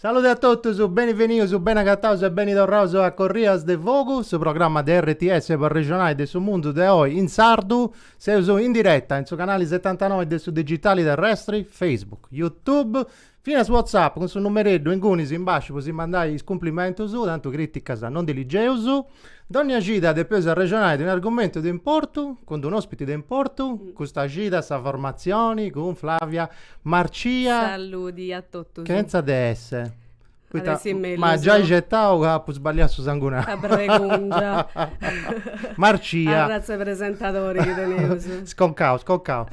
Salude a totus, beni venius, beni agataus e beni torraus a Corrias de Fogu, su programma de RTS po arrexonai de su mundu de oi in sardu. Seus in diretta in su canali setantanoi de su digitali terrestri, Facebook, YouTube, finas WhatsApp cun su numereddu ingunis in basciu po si mandai is cumplimentus, tantu criticas non ndi ligeus. Dònnia cida depeus arrexonai de unu argumentu de importu, cun d'unu òspiti de importu, custa cida sa formatzioni cun Flavia Marcia. Saludi a totus. Chentza de esse. M'at giai xetau ca apu sballiau su sangunau. La pronuncia. Marcia. Arratz'e presentadori chi teneus. Sconcau, sconcau.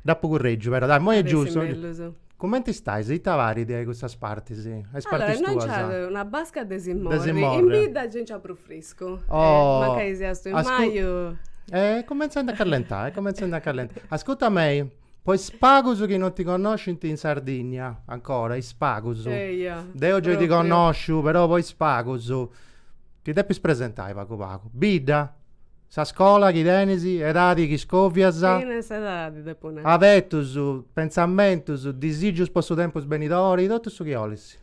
Dd'apu currègiu però, dai, imoi est giustu. Cumenti stais? Ita parit a custas partis, a is partis tuas? Allora, innoi nc'at una basca de si morri, in bidda gei nc'at prus friscu. Oh! Mancai siaus in maju. Eh, cumenzendi a callentai, cumenzendi a callentai. Ascurta a mei, po is pagus chi non ti connoscint in Sardinnia, ancora, is pagus. Eia. Deu gei ti connosciu, però po is pagus, ti depis presentai pagu pagu. Bidda! Sa scola chi tenes, edadi chi scòvias. Finas edadi depu nai. Afetus, pentzamentus, disigius po su tempus benidori, totu su chi 'olis.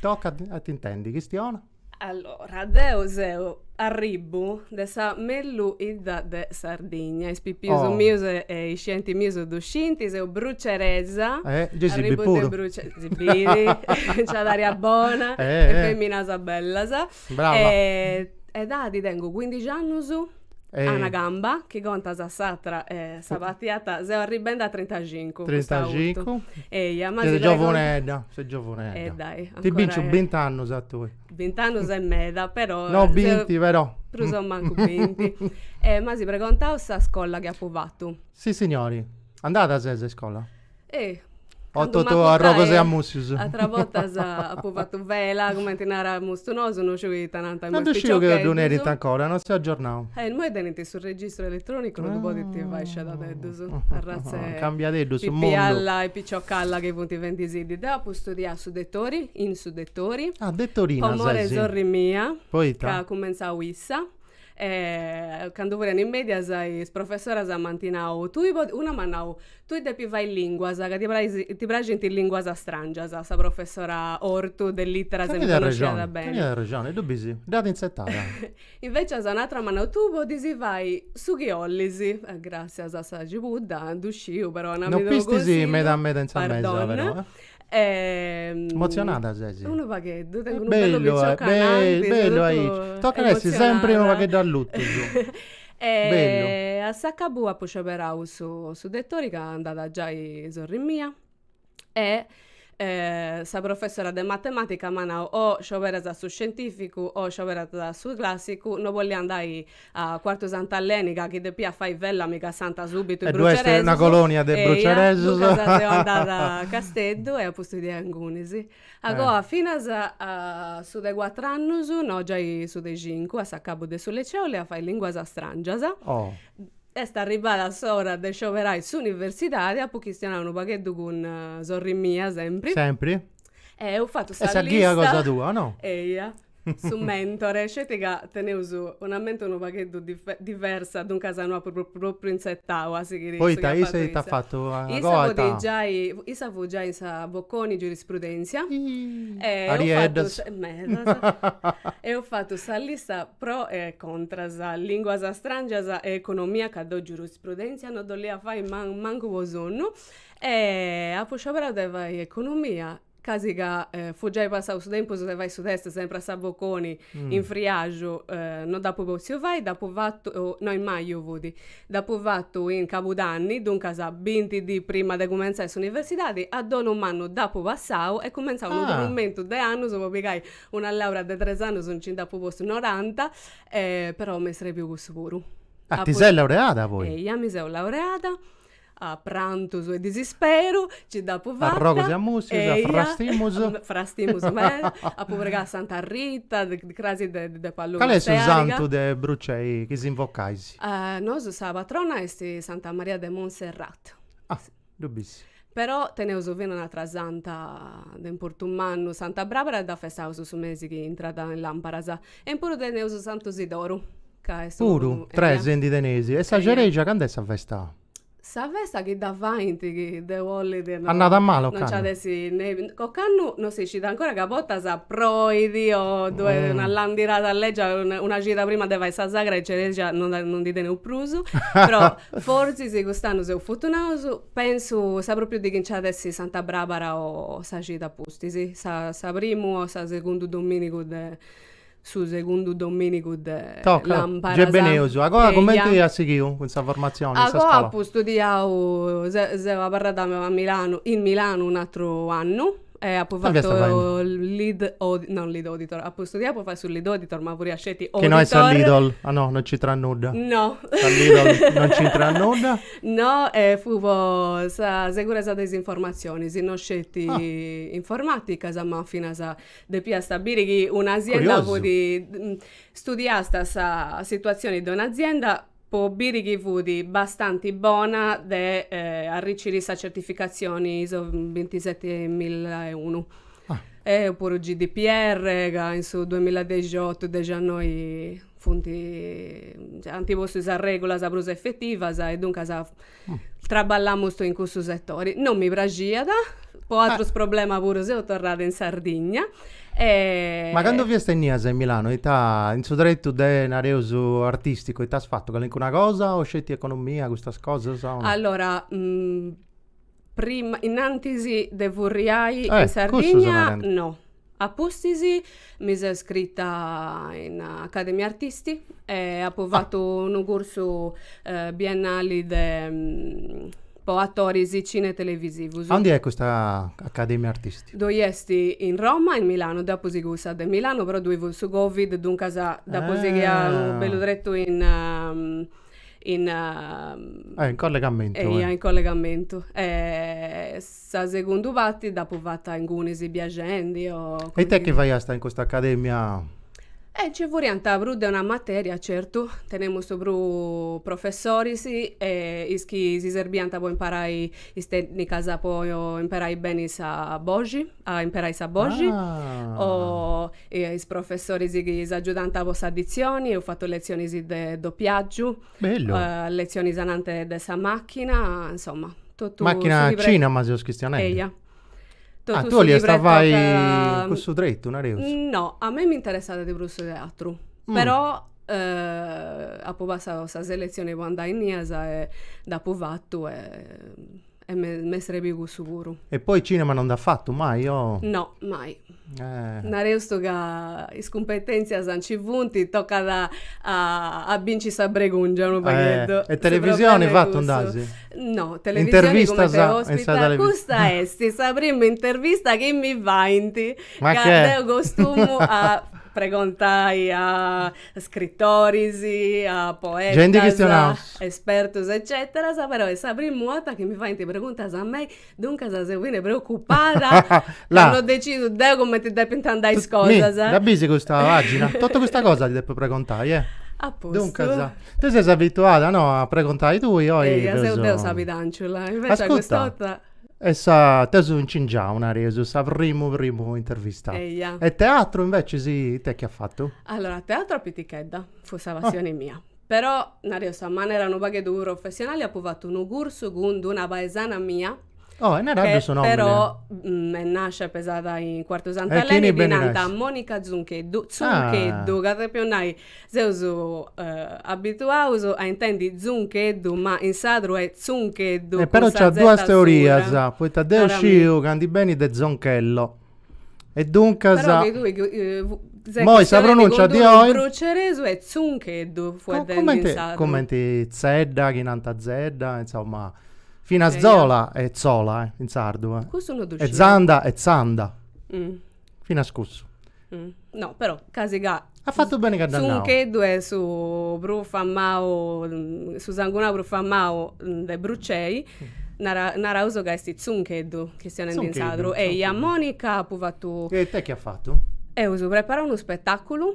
Tocat a t'intendi, chistiona. Allora, deu arribbu de sa mellus 'idda de Sardigna, is pipius mius e is scienti mius ddu scinti, seu bruceresa, arribbu de Bruce. Gei si bit puru. Nc'at aria bona e feminas bellas. Brava. E edadi tengu cuindixi annus, a una gamba, chi contas s'atra sabàtia, seu arribendi a trintaxincu. Trintaxincu. Eia, ma. Ses giovunedda, ses giovunedda. E dai, ancora. Ti binciu bint'annus a tui. Bint'annus est meda, però. No binti, però. Prus o mancu binti. M'as pregontau sa scolla chi apu fatu. Sissignori. Andada ses a iscola? Oh, totu a arrogus e a mùssius. Ateras bortas apo fatu vela, cumenti naramus nosu, no sciu ita nant custu. No ddu sciu chi ddu nerint ancora, no seu agiornau. Eh, immoi tenint su registru eletronicu no ddu podint fai scedadeddus, arratza 'e. Cambiadeddu su mundu. Pipialla e piciocalla chi funt fendi-sì-ddi. Deu apu studiau su Dettori, in su Dettori. Ah, dettorina ses. Po amori 'e sorri mia. Poita? Ca at cumentzau issa. E candu furia in mèdias is professoras m'ant nau, tui podis, una m'at nau, tui depis fai lìnguas ca ti praxint is lìnguas astràngias, sa professora Ortu de lìteras mi connosciat beni. Teniat arrexoni, e ddu bis, dd'at intzetada. Invècias un'atra m'at nau, tui podis fai su chi 'ollis, gràssias a sa cibudda, ddu sciu, però donami-ddu unu consigliu. No pistis meda meda in sa mesa però, eh. Emotzionada ses? Unu pagheddu, tengu unu bellu piciocu ananti, bellu aici, tocat a essi sempri unu pagheddu allutus e a s'acabu apu scioberau su su Dettori ca andada giai sorri mia e sa professora de matematica m'at nau o scioberas su scientificu o scioberas su classicu, no bollia andai A Quartu Sant'Aleni ca chi depia fai vela mi cassant subitu ddue est una colonia de bruceresus. Eia, duncas seu andada a Casteddu e apu studiau ingunis. Agoa finas a su de cuatru annus, no giai su de cincu, a s'acabu de su liceu olia fai linguas strangias. Est arribada s'ora de scioberai s'universidadi, apu chistionau unu pagheddu cun sorri mia sempri. Sempri. E eus fatu sa lista. Est sa ghia cosa tua, no? Eia. Su mentore, sceti ca teneus una mente unu pagheddu diversa, duncas no apu propriu intzetau a sighiri su chi at fatu issa. Poita issa ita at fatu? Issa fut giai in sa Bocconi Giurisprudentzia e eus fatu sa lista pro e contras, linguas strangias e economia ca deu Giurisprudentzia no dd'olia fai mancu po sonnu e apu scioberau de fai economia casi ca fut giai passau su tempus de fai su test sempri a sa Bocconi in friaxu no dd'apu potziu fai dd'apu fatu no in maju fut dd'apu fatu in cabudanni duncas binti dì prima de cumentzai s'universidadi a dolu mannu dd'apu passau e cumentzau unu trumentu de annus po pigai una laurea de tres annus nci nd'apu postu noranta però m'est srebiu cussu puru. Ah ti sei laureada poi? Eia mi seu laureada A prantus e disisperu nci dd'apu fata. A arrogus e a mussius, a frastimus. Eia, frastimus meda. Apu pregau a Santa Rita, de crasi de de Palluna Cali est su santu de Brucei chi s'invocais? Nosu sa patrona est Santa Maria de Monserrat. Ah, ddu bis. Però teneus fina un'atra santa de importu mannu, Santa Brabara, dda festaus su mesi chi intrat in lamparas. E in prus teneus Santu Sidoru. Puru, tres ndi teneis. E sa cerexa cand'est sa festa? Sa festa chi dda faint chi Deus bollit no. Annada mala ocannu. No nci at essi nevi. Ocannu no si scit ancora ca a bortas proit o ddu'est una landirada legia, una cida prima de fai sa sagra e cerexa no no ndi teneus prus. Però fortzis cust'annu seus fortunaus, pensu sa propriu dì chi nci at essi Santa Brabara o sa cida a pustis, sa sa primu o sa segundu dominigu de su segundu domìnigu de làmparas. Toca beneus. Agoa cumenti as sighiu cun sa formatzioni in sa scola? Agoa apu studiau, seu abarrada a Milanu, in Milanu un'àteru annu e apu fatu lead, lead auditor, apu studiau po fai su lead auditor ma furria sceti auditor. Chi no est sa Lidl, ah no, no nc'intrat nudda. No. Sa Lidl no nc'intrat nudda. No, fut po sa seguresa de is informatzionis, no sceti informaticas ma finas Depiast a biri chi un'azienda fut, studiast sa situatzioni de un'azienda po biri chi fut abbastantza bona de arriciri sa certificatzioni iso bintisetimilla e unu. Opuru GDPR ca in su duemilla e dexiotu, dexannoi funt, ant postu is arregulas prus efetivas e duncas Traballamu in cussu setori. Non mi praxiat, po àterus problemas puru seu torrada in Sardigna e. Ma candu fias tennias in Milanu ita, in su tretu de, nareus, artisticu, ita as fatu, calincuna cosa o sceti economia, custas cosas? Allora, prima, innantis de furriai in Sardigna, no. A pustis mi seu iscrita in Academia Artisti e apu fatu unu cursu biennali de po atoris cinetelevisivus. Aundi est custa Academia Artisti? Ddoi est in Roma e in Milanu, deu apu sighiu cussa de Milanu però ddoi fut su Covid duncas dd'apu sighia unu bellu tretu in in in collegamentu. Eia in collegamentu Sa segundu parti dd'apu fata ingunis biaxendi o. E it'est chi faiasta in custa academia? E nci furiant prus de una materia, certu, tenemu prus professoris e is chi si serbiant po imparai is tènnicas po imperai beni sa boxi, a imperai sa boxi, o is professoris chi s'agiudant po sa ditzioni, eus fatu letzionis de dopiàgiu Bellu. Eh, letzionis anante de sa machina, insomma, totu Machina cinema seus chistionendi. Eia. Ah, tu 'oliast fai cussu tretu, nareus? No, a mei m'interessat de prus su teatru, però apu passau sa selezioni po andai innias e dd'apu fatu e E m'est srèbiu cussu puru. E poi cinema non nd'as fatu mai o? No, mai. Eh. Nareus ca is cumpetenzias nci funt, tocat a binci sa bregungia unu pagheddu. E televisioni fatu nd'asi? No, televisioni cumenti ospita, custa est sa prima intervista chi mi faint, ca deu costumu a pregontai a Scritoris, poetas, espertus ecceteras, però est sa primu 'orta chi mi faint preguntas a mei, duncas seu bene preocupada ca no decidu deu cumenti depint andai is cosas. Mi, dda bisi custa pagina? Totu custa cosa ti depu pregontai, eh? A postu. Duncas, tui ses abituada, no, a pregontai tui, oi. Eia, seu deu sa pidànciula, invecias custa 'orta. E sa t'eus incingiau, nareus, sa primu primu intervista. Eia. E teatru invecias ite chi at fatu? Allora, teatru a pitichedda, fut sa passioni mia. Però, nareus, a manera unu pagheddu professionali apu fatu unu cursu cun d'una paesana mia, Oh, e naraddu su nomini. che però est nàscia e pesada in Cuartu Sant'Eleni, ddi nant Monica Zuncheddu, Zuncheddu, ca depiu nai, Seus abituaus a intendi zuncheddu, ma in sadru est tzuncheddu. E però nc'at duas teorias, poita deu sciu ca ndi benit de zonchello. E duncas. Però chi tui ses chistionendi cun d'unu bruceresu est tzuncheddu fueddendi in sadru. Cumenti tzedda, chi nant tzedda, insoma. Finas zola est zola in sardu. Custu no ddu sciu. E zanda est tzanda. Finas cussu. No, però, casi ca. At fatu beni ca dd'at nau. Zuncheddu est su prus famau, su sangunau prus famau de Brucei, nara, naraus ca est Zuncheddu, chistionendi in sadru. Zuncheddu. Eia, Monica apu fatu. E ite chi at fatu? Eus preparau unu spetaculu.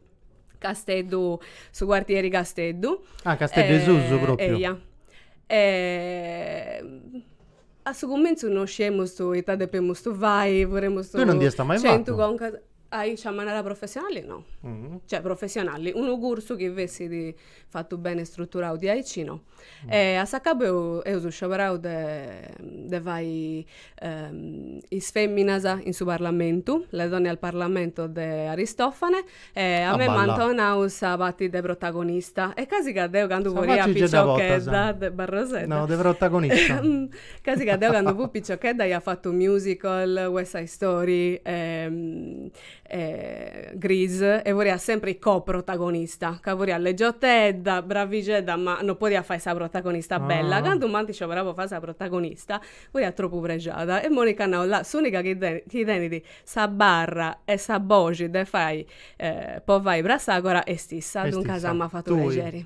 Casteddu, su quartieri Casteddu. Ah, Casteddu 'e susu propriu. Eia. a su cumentzu no sciemustu ita depemustu fai, furemustu. Tui non dd'iasta mai fatu? Centu concas. Aici a manera professionali no. Cioè professionali, unu cursu chi fessit fatu bene struturau diaici no e a s'acabu eus scioberau de fai is feminas in su parlamentu, le donne al parlamento de Aristofane e a mei m'ant donau sa pati de protagonista e casi ca deu candu furia piciochedda de barrosedda, no de protagonista, casi ca deu candu fui piciochedda ia fatu musical, west side story e e Grease e furia sempri co-protagonista ca furia leggiotedda, bravixedda ma no podia fai sa protagonista bella, candu m'ant scioberau po fai sa protagonista furia tropu prexada e Monica at nau là s'unica chi chi tenit sa barra e sa boxi de fai po fai Prassagora est issa, duncas m'at fatu prexeri.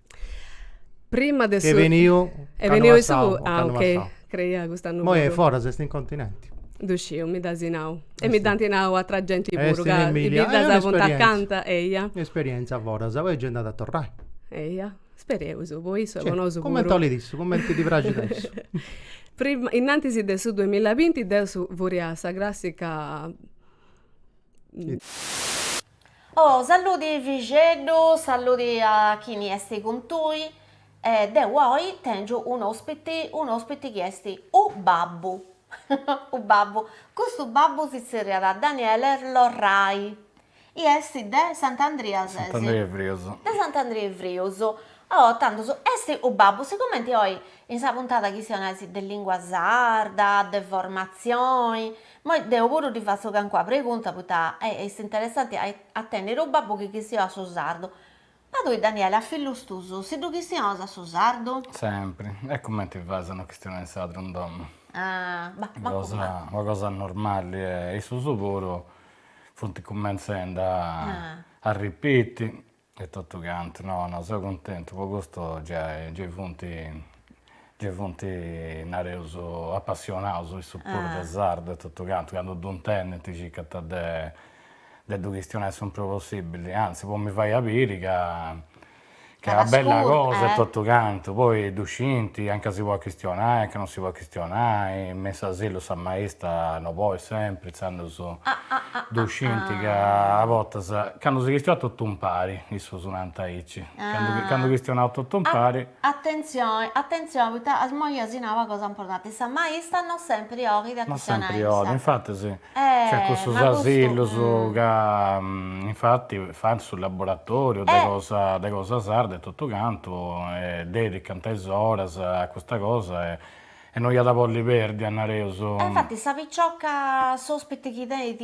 Prima de su. Ch'est beniu. Est beniu in su. Ah ok. Creia cust'annu. Moi est foras est in continenti. Ddu sciu mi dd'as nau. E mi dd'anti nau atra genti puru ca is biddas funt acanta. Eia. Esperienza foras poi gei nd'at a torrai. Eia. Spereus po issu e po nosu puru. Cumenti 'olit issu, cumenti ddi praxit a issu. Prima innantisi de su duemilavinti deu furia sa crassica. Oh, salludi fixeddu, salludi a chini esti cun tui, e deu oi tengiu un'ospiti, un'ospiti chi esti u babbu, u babbu, custu babbu si tzerriat Daniele Lorrai, i esti de Sant'Andria ses? Sant'Andria 'e Frius. De Sant'Andria 'e Frius, oh, tandus, esti u babbu, sigumenti oi in sa puntada chistionaus de lingua sarda, de formatzioni, Moi deo puru ti fatzo cancuna pregunta poita est interessanti a a tenniri unu babbu chi chistionat su sardu. Ma tui Daniele a fillus tuus si ddu chistionas su sardu? Sempri. E cumenti fais no chistionai in sadru in domu? Ah, ma ma cosa ma. Una cosa normali e issus puru funt cumenzendi a arripiti E totu cantu, no, no, seu cuntentu, po custu gei funt, gei funt, nareus, apassionaus issus puru de sardu e totu cantu, candu ddu intendint circant de de ddu chistionai su prus possibili, anzi po mi fai a biri ca ca est una bella cosa e totu cantu, poi ddu scint a nca si poit chistionai, a nca non si poit Chistionai me s'asilu sa maista no boit sempri intzandus ddu scinti ca a bortas candu si chistionat totu impari, issus nant aici, candu chistionaus totu impari. Atentzioni, atentzioni, poita immoi asi nau una cosa importanti, sa maista no sempri 'olit a chistionai. No sempri 'olit, infati sì. Cioè cussus asillus ca infatti fant su laboratoriu de cosa de cosa sarda e totu cantu e dedicant is oras a custa cosa e no iat a bolli perdi a nareus. E infatti sa picioca s'ospiti chi tenit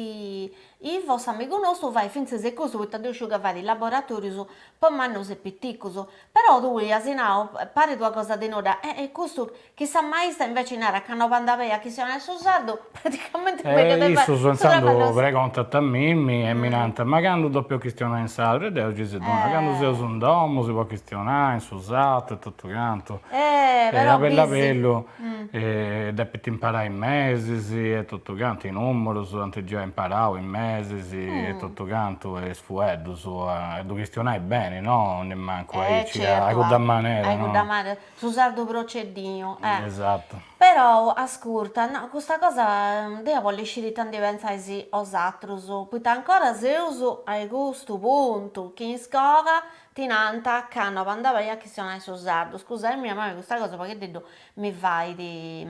Ivo s'amigu nostu fait fintzas e custu poita deu sciu ca fait laboratorius po mannus e piticus però tui asi nau parit una cosa de nudda e e custu Chissà sa maista inveci narat ca no bandat beni a chistionai su sardu, praticamente issus intzandus pregontant a mimmi e mi nant, ma candu depu chistionai in sadru? E deu gei si ddu naro, candu seus in domu si podit chistionai in su sardu e totu cantu, e a bellu a bellu depint imparai is mesis e totu cantu, i numerus, ant giai imparau is mesis e totu cantu e is fueddus, e ddu chistionai beni, no, nemancu aici, a cudda manera, no. Su sardu proceddinu, eh. Esatto. Perou, ascurta, no, custa cosa, deo bollu isciri ita ndi pentzais 'osatrus, poita ancora seus ai custu puntu, chi in scoga ti nant ca no bandat beni a chistionai su sardu, scusami, ma a mei custa cosa paghededdu mi fait,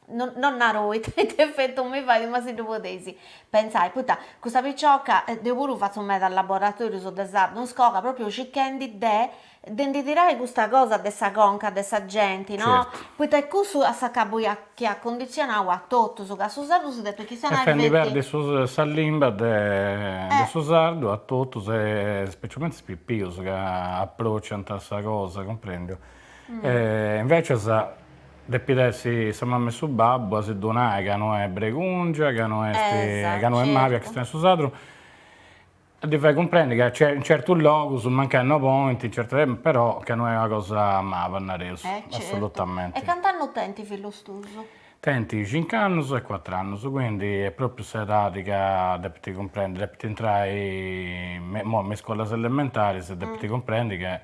no no naru ita ita effettu mi fait, ma si ddu podeis pentzai, poita custa picioca, deu puru fatzu medas laboratorius de sardu in scoga, propriu circhendi de de ndi tirai custa cosa de sa conca de sa genti, no? Certu. Poita est cussu a s'acabu iat chi at cunditzionau a totus, ca su sardu si depit chistionai Est fendi feti. perdi su sa limba de de su sardu a totus e specialmente is pipius ca approciant sa cosa, cumprendiu? E invecias depit essi sa mama e su babbu a si ddu nai ca no est bregungia, ca no est ca no est mali a chistionai su sardu. A ddi fai cumprendi ca in certus logus mancai no podint, certu, però ca no est una cosa maba, nareus, assolutamente. E cant'annus tenint fillus tuus? Tenit cinc'annus e cuatr'annus, quindi est propriu s'edadi ca depint cumprendi, depint intrai imoi me is scolas elementaris e depint cumprendi ca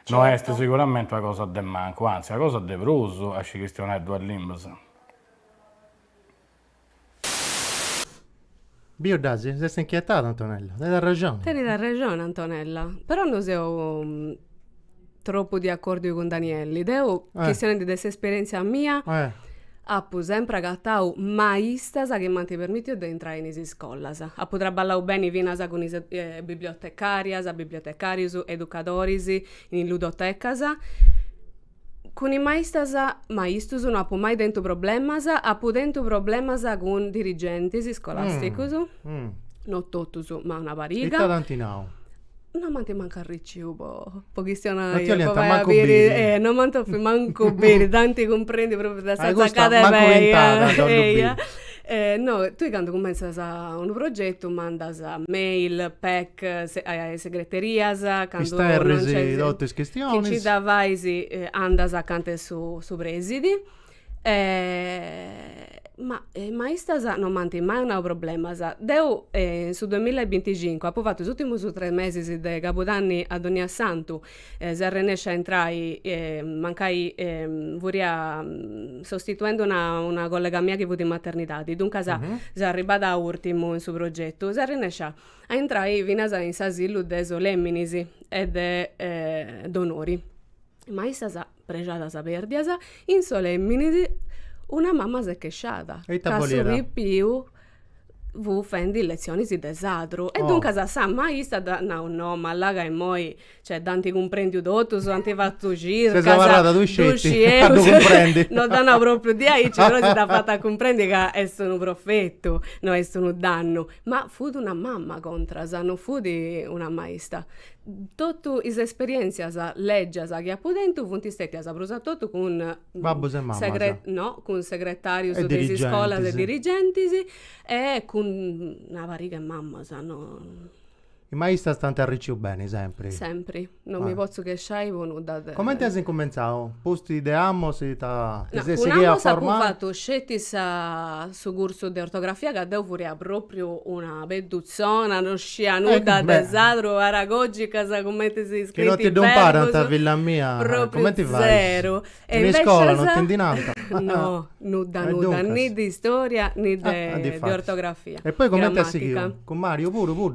no est siguramenti una cosa de mancu, anzi una cosa de prus a scì chistionai duas limbas. Biu dd'as, s'est inchietada Antonella, tenit arrexoni. Tenit arrexoni Antonella, però no seu tropu de acòrdiu cun Danielli, deu, chistionendi de s'esperièntzia mia, apu sempri agatau maistas chi m'ant permìtiu de intrai in is iscolas. Apu traballau beni finas cun is bibliotecàrias, bibliotecàrius, educadoris in ludotecas, Cun is maistas, maistus no apu mai tentu problemas, apu tentu problemas cun dirigentis scolàsticus, no totus ma una pariga. Ita t'ant nau? No m'ant mancu arriciu po po chistionai, po fai a biri. No ti 'oliant mancu biri. No m'ant 'òfiu mancu biri, tanti cumprendint pròpriu de sa tzaccada 'e pei. Mancu ch'int'at a ddu biri. E no, tui candu cummentzas unu progetu mandas mail, pec, a is segreterias, candu, Isterris totu is chistionis, nci dda fais andas acanta 'e su su presidi ma maistas non m'ant mai nau problemas. Deu in su duamilla e binticincu apu fatu is ùrtimus tres mesis de cabudanni a donniasantu seu arrennescia a intrai mancai furia sostituendi una collega mia chi fut in maternidadi duncas seu arribada a urtimu in su progetu seu arrennescia a intrai finas in s'asilu de Solèminis e de Donori maistas Prexadas perdias in Solèminis una mama s'est chesciada ca su pipiu fut fendi letzionis de sadru e duncas sa maista dd'at nau no ma là ca immoi cioè dd'ant cumprèndiu totus ant fatu circas ses abarrada tui sceti a ddu cumprendi no dd'at nau pròpriu diaici però si dd'at fatu a cumprendi ca est unu profetu no est unu dannu ma fut una mama contras non fut una maista Totu is esperièntzias lègias chi apu tentu funt stètias prus a totu cun Babbus e mamas? Segre no, cun segretàrius de is iscolas e dirigentis. E dirigentis. E cun una pariga 'e mamas, no. Is maistras t'ant arricciu beni sempri? Sempri, non mi potzu chesciai po nudda de. Comenti as incumentzau? Pustis de Amos ita ti ses sighia a formai? No, cun Amos apu fatu sceti sa su cursu de ortografia ca deu furia pròpriu una peddutzona, no Scia nudda de sadru aragògicas cumenti si scrint is verbus, pròpriu zeru. E invecias, no, nudda nudda, ni de istòria ni de ortografia, gramàtica.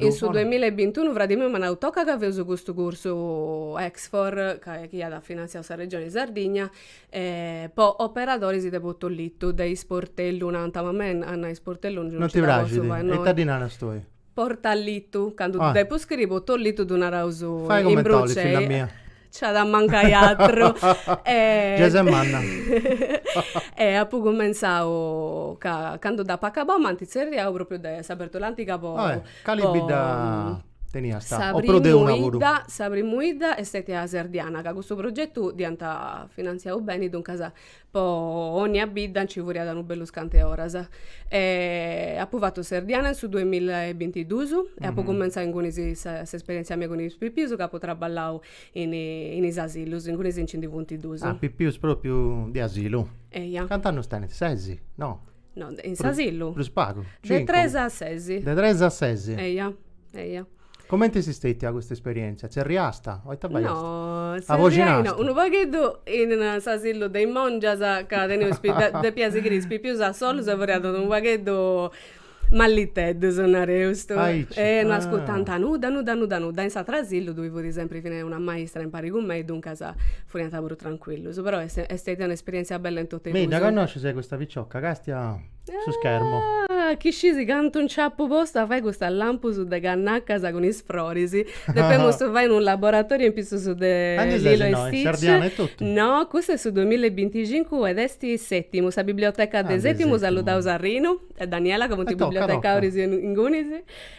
In su duemilla e bintunu fradi miu m'at nau, toca ca feus custu cursu Exfor, ca chi iat finantziau sa Regioni Sardigna, po operadoris de potollitu, de isportellu, nant, ma a mei a nai isportellu non nci dda potzu fai, no. Portalitu, candu ddu depu scriri potollitu ddu naraus in Brucei. Fai comente 'olis filla mia. Nc'at a mancai atru. Giai ses manna. E apu cumentzau ca candu dd'apu acabau m'ant tzerriau propriu de Sa Bèrtula Antiga po. Oe, cali bidda teniast? O prus de una puru? Sa primu 'idda, sa primu 'idda est stètia Serdiana, ca custu progetu dd'iant finantziau beni, duncas Po onnia bidda nci furiat unu bellu scant'e oras. Apu fatu Serdiana in su duemilla e bintidus e apu cumenzau inguni s'esperièntzia mia cun is pipius ca apu traballau in in is asilus, inguni nci ndi funt dus. Ah, pipius pròpriu de asilu? Eia. Cant'annus tenint? Ses? No. No, in s'asilu? Prus pagu, cincu. De tres a ses. De tres a ses. Eia, eia. Comente est stètia custa esperièntzia? Tzerriast? O ita faiast? No, tzerriai no, unu pagheddu in s'asilu de is mòngias ca teneus depia sighiri is pipius a solus e furiant unu pagheddu malliteddus, nareus. E no ascurtant nudda, nudda, nudda, nudda. In s'ateru asilu ddoi fut sempri, fit una maistra impari cun mei, duncas furiant puru trancuillus. Però est stètia un'esperièntzia bella in totu is. Mi dda connoscis custa piciocca, castia? su schermo. Ah, chi scisi cantu nc'apu postu a fai custas lampus de cannacas cun is froris. Depemus fai unu laboratoriu in pitzus de Lilo e Stitch. Serdiana e totu? No, custu est su duemilla e binticincu ed est Sètimu, sa biblioteca de Sètimu, saludaus a Rinu e Daniela ca funt bibliotecàrius ingunis.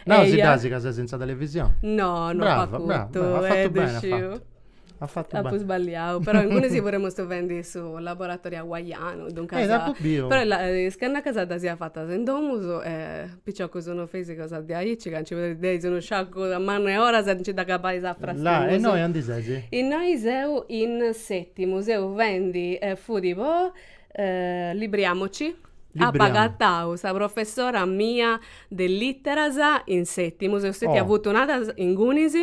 Nau si dd'asi ca ses in sa televisioni. No, no apu acutu, e ddu sciu. At fatu beni. Apu sballiau, però ingunis puru emus fendi su laboratoriu hawaianu, duncas. Eh dd'apu biu. Però is cannacas ddas ia fatas in domus e piciocus no feis cosa diaici ca nci perdeis unu sciacu mannu 'e oras e nci dd'agabais a frastimus. Là, e innoi andi ses? Innoi seu in Sètimu, seu fendi e fudi po Libriamoci. Libriamo. Apu agatau sa professora mia de lìteras in Sètimu, seu stetia futunada ingunis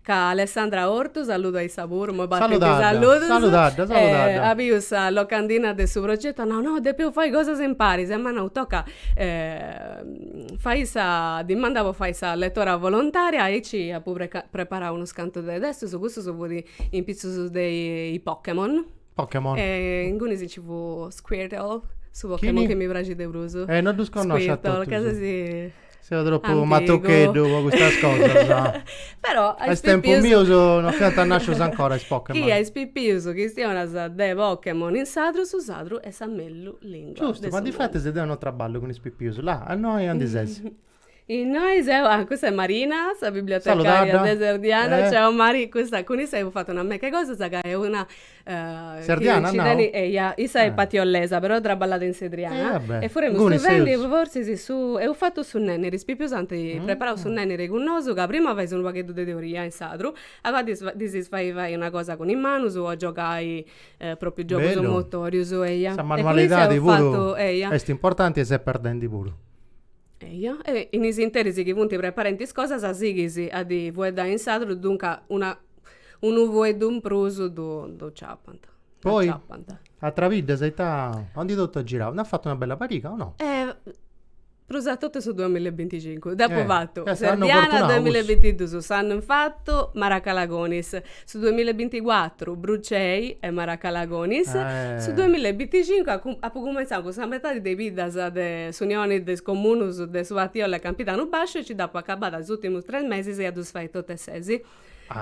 Ca Alessandra Ortu, saludu a issa puru, imoi partint is Saludadda, saludus, saludadda, saludadda. eh, at biu sa locandina de su progetu, at nau, no, depeus fai cosas imparis, e m'at nau, toca fai sa dimanda po fai sa letora volontaria, aici apu preca preparau unus cantu de testus, custus funt in pitzus de i Pokemon Pokémon. Eh, ingunis ci fut Squirtle, su Pokémon Chini? chi mi praxit de prus. Eh, no ddus connoscio a Squirtle, totus. ca sesi... Seu tropu Antigu. matucheddu po custas cosas. Però a is tempus pipius... mius no fiant nascius ancora is Pokémon. Chi a is pipius chistionas de Pokémon in sadru, su sadru est sa mellus lingua de Giustu, su ma mundu. difatis deu no traballu cun is pipius, là, a innoi andi sesi. Innoi seu, ah custa est Marina, sa bibliotecària de Serdiana, ciao Mari, custa cun issa eus fatu una meca 'e cosas ca est una Serdiana as nau? Eia, issa est patiollesa però traballat in Sedriana e furemus vivendi forsis su, eus fatu su nenniri, is pipius ant preparau su nenniri cun nosu ca prima fais unu pagheddu de teoria in sadru e poi ddis ddis fais fai una cosa cun is manus o giogai propriu giogus motorius, eia, e cun issa eus fatu, eia, bellu, sa manualidadi puru est importanti e s'est perdendi puru Eja, e in is interis chi funt preparenti is cosas sighis a ddi fueddai in sadru, duncas una unu fueddu in prus ddu ddu ciapant. Poi atras biddas e ita? Andi totu as girau. Nd'as fatu una bella pariga o no? Prus a totu su duamilla e binticincu. Dd'apu fatu, Serdiana duamilla e bintidus s'annu in fatu, Maracalagonis. Su duamilla e binticuatru Brucei e Maracalagonis, su duamilla e binticincu apu apu cumenzau cun sa metadi de is biddas de s'Unioni de is Comunus de su Patiolla e Campidanu Basciu e nci dd'apu acabada is ùrtimus tres mesis e a ddus fai totu e sesi.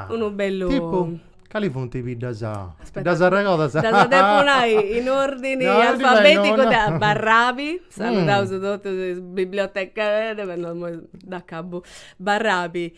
Unu bellu. Tipu? Cali funt is biddas? Aspetta. Ddas arregodas? Ddas depu nai in ordini alfabeticu de Barrabi, saludaus totus is biblioteca, dd'acabu, Barrabi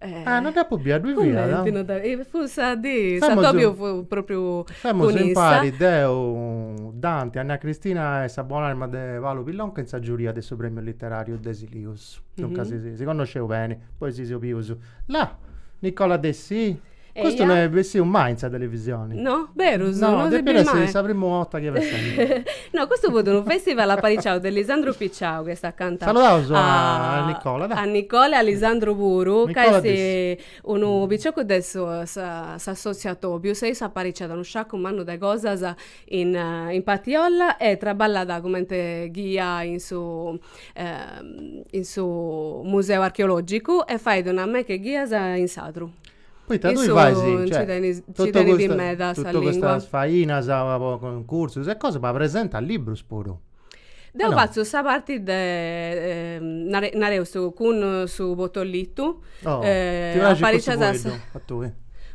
Ah, no dd'apu bia, ddui fiat? Cumenti no dda. Fut sa dì, s'atobiu fut propriu Femus impari deu, Dante, Anna Cristina e sa bon'arma de Paulu Pillonca in sa giuria de su premiu literariu de Silius. Duncas si connosceus beni, poi si seus bius. Là, Nicola Dessì? Custu no est bessiu mai in sa televisioni. No? Berus? No, no depiat essi sa primu 'orta chi eus sentidu. No, custu fut unu festival apariciau de Lisandru Picciau, chi est acanta. Saludaus a Nicola, dai. A Nicola e a Lisandru puru, ca est unu piciocu de s'assotziu Atobius, e issu apariciat unu sciacu mannu de cosas in in Patiolla e traballat cumenti ghia in su in su museu archeologicu e fait una meca 'e ghias in Sadru. Poita tui fais, cioè, totu custas, totu custas fainas po cuncursus e cosa, ma presentas librus puru. Deu fatzu sa parti de, nare, nareus cun su portalitu. Oh, ti praxit cussu fueddu a tui?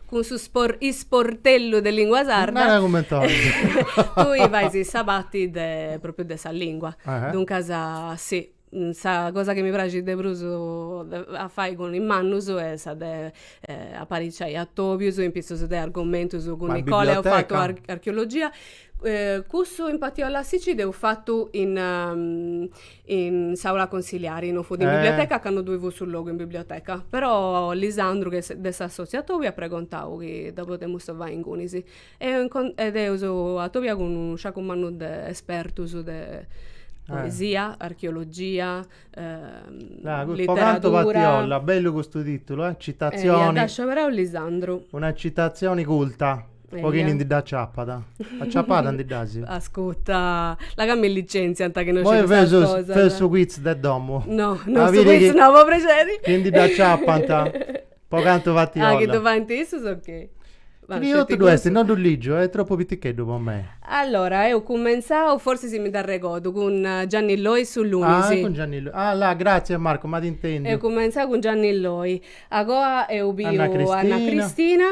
Cun su spor, isportellu de lingua sarda. Nara cumenti 'olis. Tui fais sa parti de, propriu de sa lingua. Duncas, sì. Sa cosa chi mi praxit de prus a fai cun is mannus est sa de apariciai atobius in pitzus de argomentus cun Nicola eus fatu archeologia. Cussu in Patiolla a Sicci dd'eus fatu in in s'aula consiliari, non fut in biblioteca ca no ddoi fut su logu in biblioteca. Però Lisandru de s'assoziu atobiu at pregontau chi ddu podemus fai ingunis E eus atobiau cun unu sciacu mannu de espertus de poesia, archeologia, literatura. Po cantu Patiolla, bellu custu titulu eh, citazioni. Eia, dd'at scioberau Lisandru. Una citazioni culta, po chini ndi dd'aciapat. Aciapada ndi ddas? Ascuta, là ca mi licenziant chi no sciu custas cosas. Moi feus su quiz de domu. No, no su quiz no, po prexeri. Chi ndi dd'aciapant. Po cantu Patiolla. Ah, chi ddu faint issus, ok. Scritu ddu est, no ddu ligiu, est tropu piticheddu po mei. Allora, eus cumentzau, forsis si mi dd'arregodu, cun Gianni Loi su lunis. Ah, cun Gianni Loi. Ah, là, gratzias Marco, m'at intendiu. Eus cumentzau cun Gianni Loi. Agoa eus biu Anna Cristina.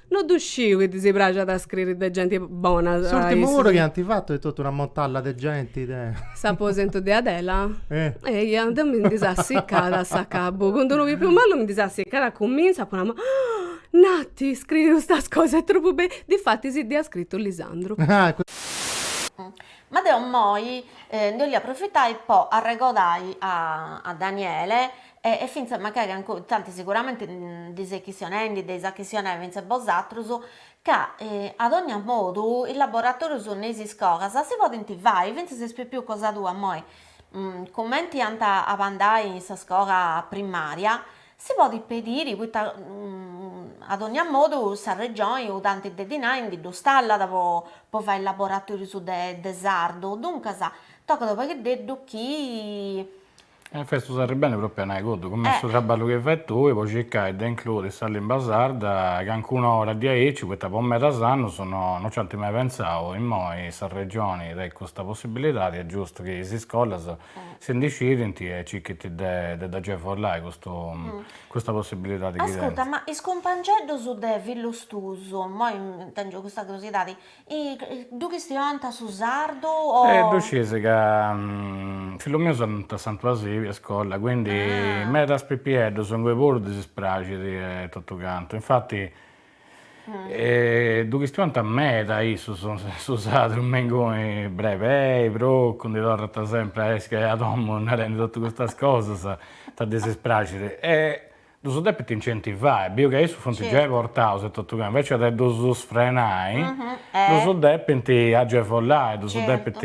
No ddu sciu chi ddis praxat a scriri de genti bona. S'ùrtimu puru chi ant fatu est totu una montalla de genti de. S'aposentu de Adela? Eia, deu mi ndi seu assicada a s'acabu. Cun d'unu pipiu malu mi ndi seu assicada a cumintzu, apu nau, Nati, scriri custas cosas est tropu bellu. Difatis si dd'ia scritu Lisandru. Ma deu immoi ndi 'olia aprofitai po arregodai a Daniele E fintzas magari ancora, intantis sicuramente ndi ses chistionendi, dd'eis a chistionai fintzas bosatrus, ca a dogna modu is laboratorius innoi is iscolas si podint fai, fintzas is pipius cosa tua immoi, cumenti ant a andai in sa scola primaria, si podit pediri poita a dogna modu s'arregioni u tanti de dinai ndi ddu stallat po fai is laboratorius de sardu, duncas tocat u pagheddeddu chi E fest u serri beni propriu a nai cuddu, cumenti su traballu chi fais tui po circai de includi sa limba sarda cancuna ora diaici, poita po medas annus no no ci ant mai pentzau, immoi sa Regioni tenit custa possibilidadi, est giustu chi is iscolas si ndi scidint e circhint de de dd'agevolai custu custa possibilidadi chi tenint. Ascurta, ma is cumpangeddus de fillus tuus, immoi tengiu custa curiosidadi, E ddu chistionant su sardu o. E ddu sciis ca fillus mius andant a Santu Asibi a iscola, quindi medas pipieddus ingoi puru ddis ispraxit e totu cantu, infati ddu chistionant meda issus su sardu, me ingoi brebei, procu, ndi torrant sempri a nesi a domu narendi totu custas cosas, poita ddis ispraxit e Ddus depint incentivai, biu ca issus funt giai portaus etotu ca invece de ddus sfrenai ddus depint agevolai, ddus depint,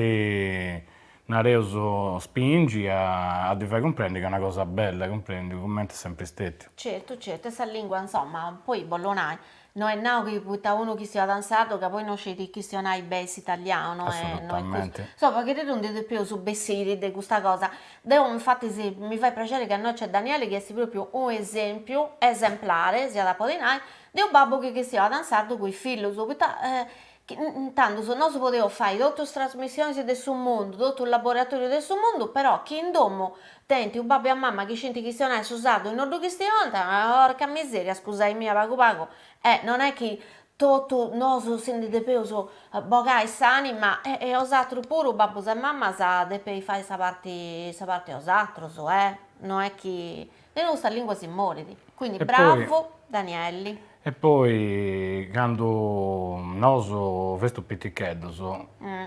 nareus, spingi a ddi fai cumprendi ca est una cosa bella, cumprendi, cumenti est sempri stetiu. Certu, certu, e sa lingua, insoma, poi bollu nai, No est nau chi poita unu chistionat in sardu ca poi no scit chistionai beni s'italianu, no est custu. Est chi ndi depeus bessiri de custa cosa. Deu infatis mi fait prexeri ca innoi nc'est Daniele chi est propriu unu esempiu esemplare, si at a podi nai, de unu babbu chi chistionat in sardu cun is fillus, poita intandus nosu podeus fai totu is trasmissionis de su mundu totu is laboratorius de su mundu però chi in domu tenint u babbu e una mama chi scinti chistionai su sardu e no ddu chistionant porca miseria scusai mia pagu pagu e non è chi totu nosu si ndi depeus bogai s'anima e bosatrus puru babbus e mamas depeis fai sa parti sa parti 'e bosatrus eh no è chi De nou sa lingua si morit. Quindi bravu Danieli. E poi candu nosu festu piticheddus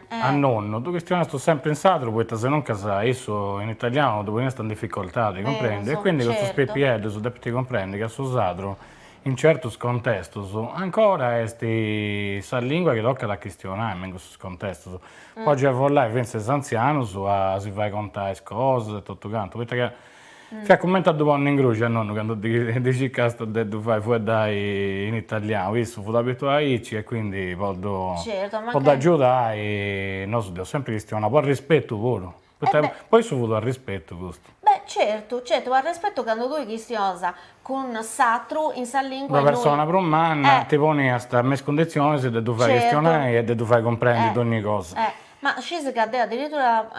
a nonnu ddu chistionastu sempri in sardu poita senoncas issu in italianu ddu poniast in dificultadi cumprendi e quindi custus pipieddus depint cumprendi ca su sadru in certus contestus ancora est sa lingua chi tocat a chistionai me in custus contestus po agevolai fintzas is antzianus a si fai contai is cosas e totu cantu poita ca Ca cumenti a ddu ponni in gruxi a nonnu candu ddi circàstis de ddu fai fueddai in italianu, issu fut abituau aici e quindi po ddu po ddu agiudai nosu dd'eus sempri chistionau, po arrispetu puru, poita po issu fut u' arrispetu custu. Beh certu, certu, u' arrispetu candu tui chistionas cun s'atru in sa lingua innui. Una persona prus manna ti poniast me is cundizionis de ddu fai chistionai e de ddu fai cumprendi dogni cosa. Ma scisi ca deo addirittura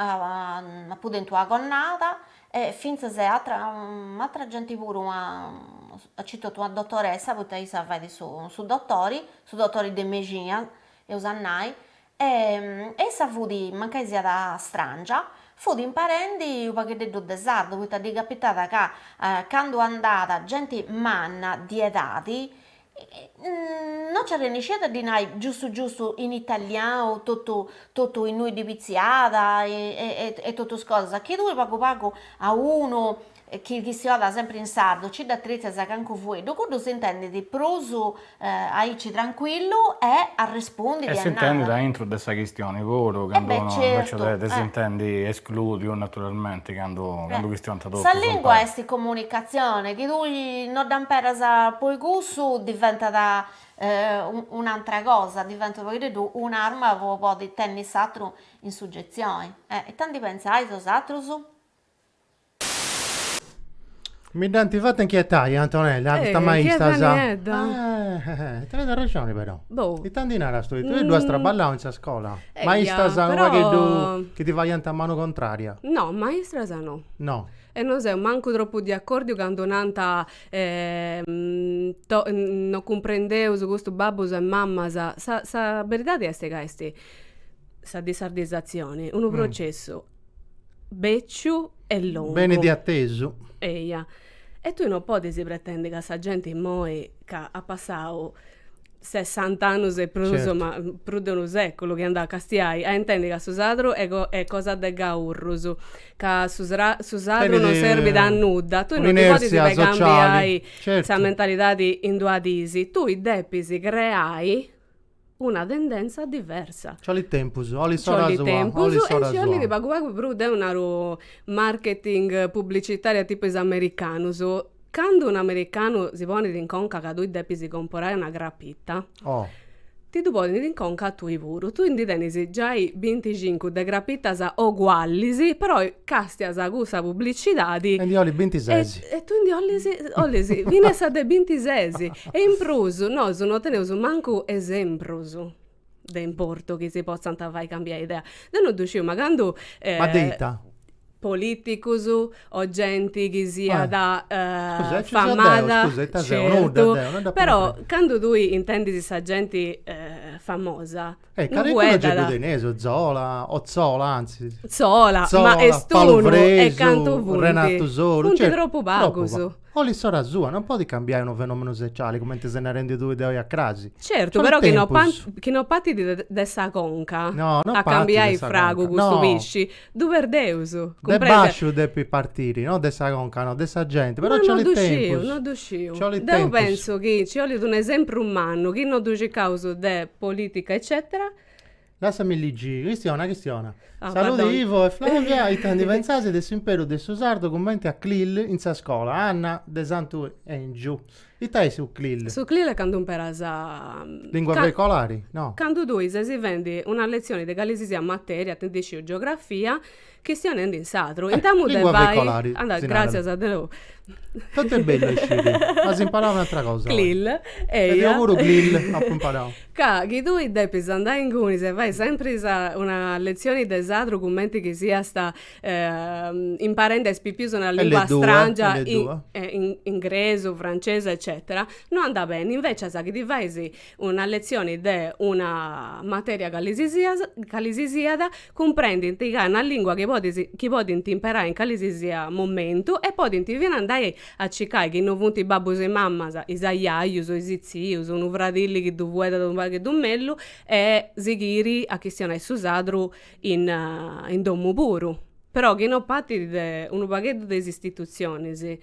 apu tentu una connada e fintzas e atra atra genti puru aici totu una dotoressa poita issa fait su su dotori, su dotori de mexina eus a nai e issa fut, mancai siat strangia, fut imparendi unu pagheddeddu de sardu poita ddi capitat ca candu andat genti manna di edadi no nci arrennesciat a ddi nai giustu giustu in italianu totu totu innui ddi pitziat e totu is cosas, chi tui pagu pagu a unu chi chistionat sempri in sardu nci dd'atritzas calincunu fueddu, cuddu s'intendit prus aici trancuillu e arrespundit e nai. E s'intendit aintru de sa chistioni puru, candu unu invece de s'intendi esclùdiu naturalmenti candu candu chistionant Sa lìngua est comunicatzione, chi tui no dd'amperas po i cussu diventat un'antra cosa, diventat unu pagheddeddu un'arma po podi tenni s'atru in sugetzioni. E ita ndi pentzais 'osatrus? Mi dd'ant fata inchietai, Antonella, custas maistas. Inchieta niedda. Tenit arrexoni però. Boh. Ita ndi naras tui? Tui ddu as traballau in sa scola? Maistras unu pagheddu chi ti faiant a manu contraria? No, maistras no. No. E no seu mancu tropu de acòrdiu candu nant no cumprendeus custus babbus e mamas, sa sa beridadi est ca est sa dissardizatzioni, unu processu bèciu e longu. Benit de atesu. Eia. E tui no podis pretendi ca sa genti imoi ca at passau sessant'annus e prus, ma prus de unu seculu chi andas a castiai, a intendi ca su sardu est cosa de gaurrus, ca su su sardu non serbit a nudda, tui non ndi podis cambiai sa mentalidadi in duas dis, tui depis creai una tendenza diversa. Nci 'olit tempus, 'olit s'ora sua. Nci 'olit tempus e nci 'olit pagu pagu prus, deu naru marketing pubblicitaria tipu is americanus Candu un americanu si ponit in conca ca tui depis comporai una crapita, ti ddu ponit in conca a tui puru. Tui ndi tenis giai binticincu de crapitas ogualis, però castias cussa publicidadi. E ndi 'olis bintises. E tui ndi 'olis, 'olis finas sa de bintises. E in prus, nosu no teneus mancu esemprus. de importu chi si potzant fai cambiai idea. Deu no ddu sciu, ma candu Ma de ita? Politicus o genti chi siat famada, certu, però candu tui intendis sa genti famosa, no fueddat, Zola, o Tzola, anzi, Zola, ma est unu e cantu funt, funt tropu pagus. Olit s'ora sua, non podit cambiai unu fenomenu sociali, cumenti ses narendi tui de oi a crasi. Certu, però chi no chi no partit de de sa conca a cambiai fragu custu pisci, ddu perdeus. De basciu depit partiri, no de sa conca, no, de sa genti, però ci olit tempus. No ddu sciu, no ddu sciu. Deu pentzu chi ci olit unu esempru mannu, chi no ddu circaus de politica eccetera. Lassami ligi, chistiona, chistiona. Ah, Salude pardon. Ivo e Flavia, ita ndi pentzais de s'imperu de su sardu cumenti a clil in sa scola, Anna, de Santu Engiu. Ita est su clil? Su clil est candu imperas. Lingua ca- veicolari? No. Candu tui ses fendi una letzioni de calisisiat materia, 'ta ndi sciu geografia, Chistionendi in sardu. Eh! Intamu de fai. Lingua veicolari, si narat. Gràtzias a Deus. Tantu est bellu a isciri. As imparau un'atra cosa. Clill. Eia. E deu puru clill apu imparau. Ca chi tui depis andai ingunis e fai sempri sa, una letzioni de sardu cumenti chi siast imparendi a is pipius una lingua strangia. L2, L2. Ingresu, francesu eccetera, no andat beni, invecias chi tui fais una letzioni de una materia cali si sias cali si siat cumprendint ca est una lingua chi podis chi podint imperai in cali si sia momentu e podint finas andai a circai chi no funt is babbus e is mamas is ajajus o is tzius unu fradilli chi ddu fueddant unu pagheddu mellus e sighiri a chistionai su sardu in in domu puru però chi no partit de unu pagheddu de is istitutzionis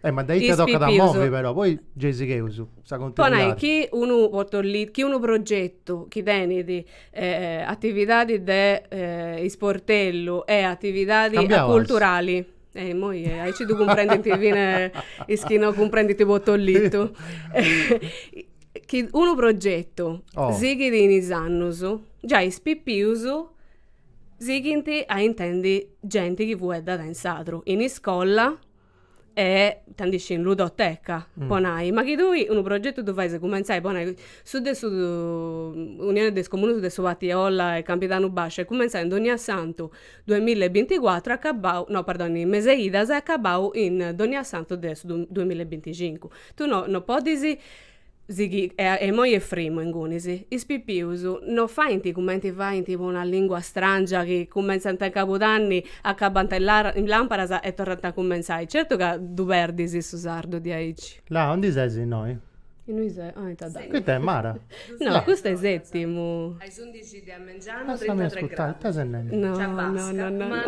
Eh, ma dai, tocat a movi però, poi gei sigheus, sa continuidadi. chi unu chi unu progetu chi tenit atividadi de isportellu e atividadi culturali. E imoi aici ddu cumprendint fina is chi no cumprendint po totu. Chi unu progetu sighit in is annus, giai is pipius Sighint a intendi genti chi fueddat in sardu, in iscola e 'ta ndi sciu in ludoteca, po nai. Ma chi tui unu progetu ddu fais cumentzai, po nai, su de su Unioni de is Comunus de su Partiolla e Campidanu Basciu est cumenzau in dogna santu duamilla e binticuatru e acabau, no perdoni, in Meseidas e acabau in dogna santu de su duamilla e binticincu. Tui no, no podis Sighi e e moi est frimu ingunis. Is pipius no faint cumenti faint po una lingua strangia chi cumentzant in Cabudanni, acabant in la in Làmparas e torrant a cumentzai. Certu ca ddu perdis su sardu diaici. Là aundi ses innoi? Innui se, ah ita dd'hai. Ita est Mara? No, custu est Setimu. A is undixi de a mengianu. Lassami ascurtai, ita ses nendi? No, no, no, no.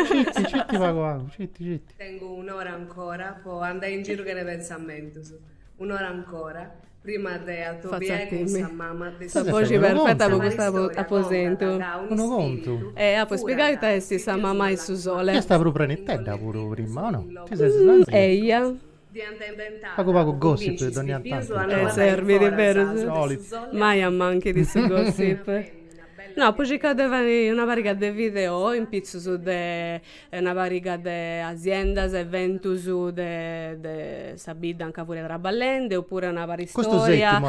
Citi, citi pagu pagu, citi, citi. Tengu un'ora ancora po andai in giru chene pentzamentus. Un'ora ancora, prima de atobiai cun sa mama de su soli. Sa boxi perfeta po custu aposentu. Unu contu. Apu a spiegai ita est sa mama 'e su soli. Fiast prus prenitedda puru prima, o no? Ti ses slangiu. Eia. Diant inventau. Pagu pagu gossip de dogna tantu. E serbit, berus. Solit. Mai amanchit su gossip. No, apu circau de fai una pariga de video in pitzus de e una pariga de asiendas eventus de de sa bidda anca furia traballende oppure una paristoria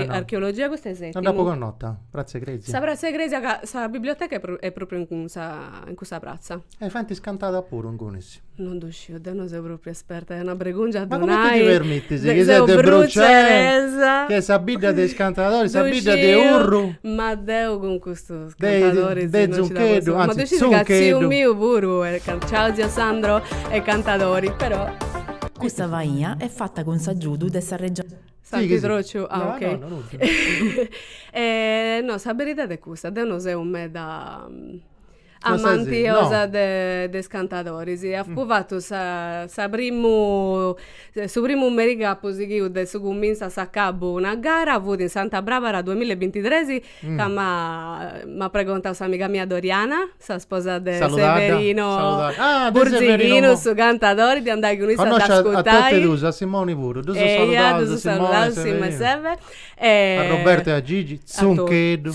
archeologia custu est setimu. No dd'apo connota, pratza 'e cresia. Sa pratza 'e cresia ca sa biblioteca est propriu in cussa pratza. E faint is cantadas puru ingunis? Non ddu sciu, deu no seu propriu esperta, est una bregungia a ddu nai. Ma cumenti ti permitis chi ses de Brucei, chi est sa bidda de is cantadores, sa bidda de Urru. Ma deu cun custus Cantadores deu no ci la posso fai. Ma ddu scis ca tziu miu puru est cantadori. Ciao zio Sandro, est cantadori però. Custa faina est fata cun s'agiudu de sa Regioni. Santi Trociu, ah ok. No, no, no, no. No, sa beridadi est custa, deu no seu meda amantiosa de is cantadoris. Apu fatu sa sa primu su primu merì chi apu sighiu de su cumintzu a s'acabu una gara fut in Santa Brabara duamilla e bintitresi ca m'at pregontau s'amiga mia Doriana, sa sposa de Severino Burzighinu, su cantadori, de andai cun issa a dd'ascurtai. Connosciu a totus, a Simoni puru, ddus saludaus Simoni e Severino. A Robertu e a Gigi, Zuncheddu,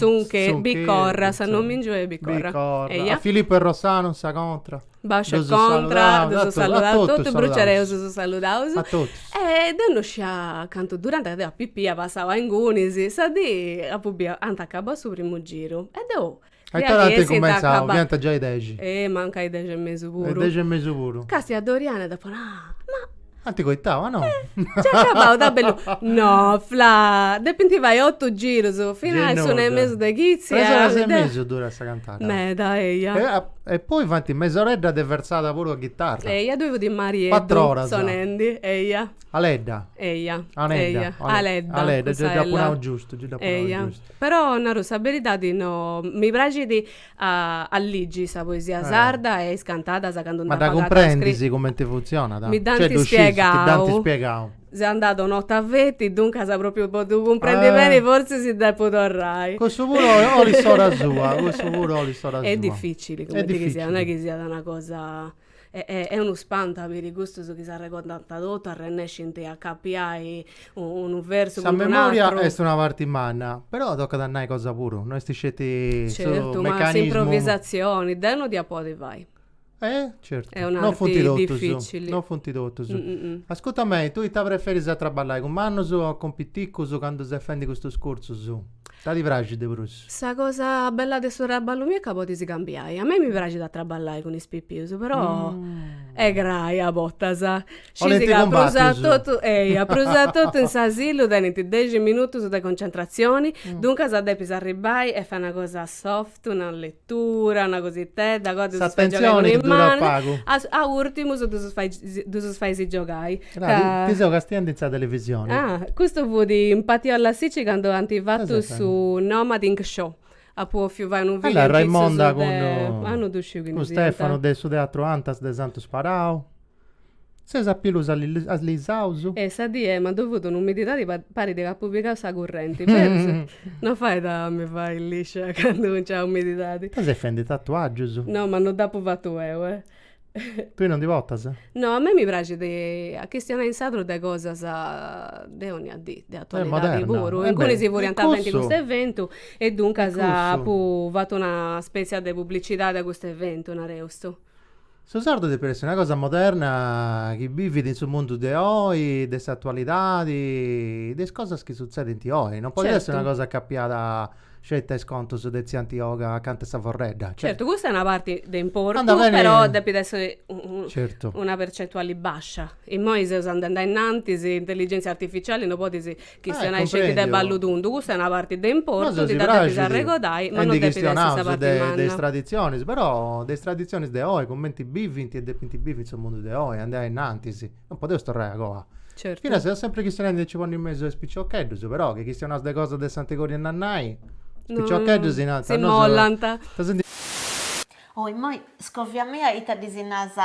Biccorra, s'annomìngiu est Biccorra. A Filipu e Rossanu, sa contra. Bàsciu e contra, ddus saludaus totus, bruceresus ddus saludaus, e deu no scia cantu durant ca deu a pipia passau a ingunis, sa dì apu biu, ant acabau su primu giru e deu a it'ora ant cumenzau, fiant giai dexi. Eh mancai dexi e mesu puru. Dexi e mesu puru. Càstiu a Doriana e dd'apu nau, ma Ant coitau, ah no! Nc'est acabau, ta bellu. No, Fla, depint fai otu girus, finas a s'una e mesu de chitzi. Tres oras e mesu durat sa cantata. Meda, eia. E poi faint mesoredda de versada puru a ghitarra. Eia, ddoi fut Marieddu. Cuatru oras. Sonendi, eia. Aledda. Eia. Anedda. Aledda. Aledda, gei dd'apu nau giustu, gei dd'apu nau giustu. Eia, però, naru sa beridadi, no, mi praxit A ligi sa poesia sarda e is cantadas candu nd'agatu scritas. Ma dda cumprendis cumenti funtzionat? Mi dd'ant spiegau. Ti dd'ant spiegau. Seu andada una 'orta feti, duncas propriu po ddu cumprendi beni fortzis depu torrai. Cussu puru olit s'ora sua, cussu puru olit s'ora sua. Est dificili, cumenti chi siat, no est chi siat una cosa. Est unu spantu a biri custus chi s'arregordant totu, arrennescint a acapiai unu versu cun d'un'atru. Sa memoria est una parti manna, però tocat a nai cosa puru, no est sceti su meccanismu. Certu, ma s'improvisatzioni, deu no dd'ia a podi fai. E? Certu. Est un'arti dificili. No funt totus. Ascurta mei, tui ita preferis a traballai cun mannus o cun piticus candu ses fendi custus cursus? Ita ti praxit de prus? Sa cosa bella de su traballu miu est ca podisi cambiai. A mei mi praxit a traballai cun is pipius, però est grai a bortas. Scisi ca prus atotu, eia, prus atotu in s'asilu tenint dexi minutus de concentrazioni, duncas depis arribai e fai una cosa soft, una letura, una cositedda, o ddusu fais giogai cun is manus, a urtimus ddus ddus faisi giogai. Ti seu castiendi in sa televisione. Ah, custu fut in Patiolla Sici candu ant fatu su Nomading Show. Apu ofiu fai unu video. Allora, Raimonda cun Stefano de su Teatru Antas de Santu Sparau. Seus a pilus allisaus. E sa dì ddui fut un'umididadi chi parit ca apu pigau sa currenti. Berus? No fait a mi fai liscia candu nc'est umididadi. Ita ses fendi tatuagius? No, ma no dd'apu fatu eu, eh. Tui non ndi portas? No, a mei mi praxit a chistionai in sardu de cosas de onnia dì, de atualidadi puru. Ingunis furiant fendi custu eventu e duncas apu fatu una spetzia de publicidadi a custu eventu, nareus. Su sardu depit essi una cosa moderna chi bivit in su mundu de oi, de s'atualidadi, de is cosas chi sutzedint oi. Non podit essi una cosa acapiada Sceti a is contus de tzia Antioga acanta 'e sa forredda. Certu, custa est una parti de importu, però depit essi una percentuali bascia. Immoi seus andendi a innantis, s'intelligentzia artificiali no podis chistionai sceti de ballu tundu, custa est una parti de importu, dda depis arregodai, ma no depit essi sa parti manna. Nosu si praxit a ndi chistionai de is traditzionis, però de is traditzionis de oi, cumenti bivint e depint bivi in su mundu de oi, andai a innantis. non podeus torrai a coa. Certu. Finas seus sempri chistionendi de nci ponni in mesu is piciocheddus, però chi chistionaus de cosas de s'antigóriu 'e nannai, is piciocheddus si narant, nosu si mollanta. Ita si ndi. Oh, immoi, scovia-mì ita ddisi naras,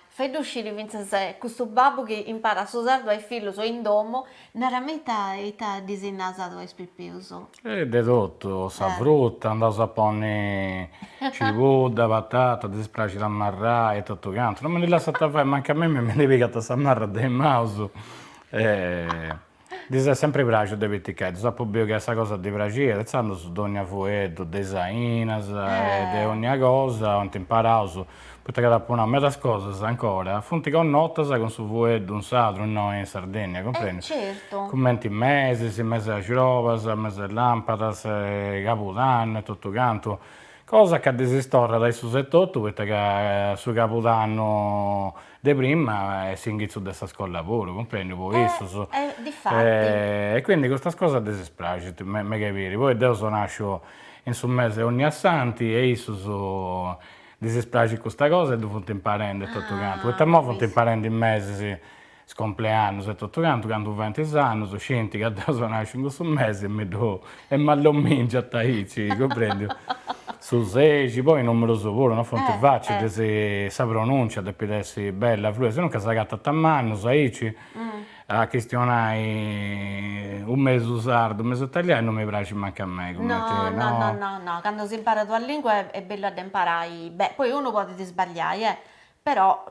fai-ddu sciri fintzas custu babbu chi imparat su sardu a is fillus in domu Narami ita ita ddisi naras a is pipius. E de totu, sa fruta, andaus a ponni cibudda, patata, ddis praxit a marrai e totu cantu, no mi ndi lassant fai, mancai a mimi mi ndi pigant sa marra de is maus, ddis est sempri praxiu de piticheddus, apu biu ca est sa cosa ddi praxiat, intzandus dogna fueddu de is ainas e de onnia cosa ant imparau poita ca t'apu nau medas cosas, ancora, funt connotas cun su fueddu in sardu, innoi in Sardinnia, cumprendi? Certu. Cumenti mesis, mesi 'e argiolas, mesi 'e lampadas, cabudannu e totu cantu, cosa ca ddisi torrat a issus etotu poita ca su cabudannu de prima est s'inghitzu de sa scola puru, cumprendi, po issus. E difati. E quindi custas cosas ddisi praxint meda de biri, poi deu seu nasciu in su mesi 'e onniassanti e issus Ddis est praxit custa cosa e ddu funt imparendi e totu cantu, poita imoi funt imparendi is mesis is compleannus e totu cantu, candu faint is annus scint ca deu seu nasciu in cussu mesi e mi ddu e m'at ddu mingiant aici, cumprendiu. Su sexi, poi numerus puru non funt facilis, sa pronùncia depit essi bella, fluida, si nunca s'agatant a mannus aici A chistionai u mesu sardu u mesu italianu no mi praxit mancu a mei cumenti no no no no candu s'imparat una lingua est bellu a dd'imparai beni poi unu podit sbagliai e però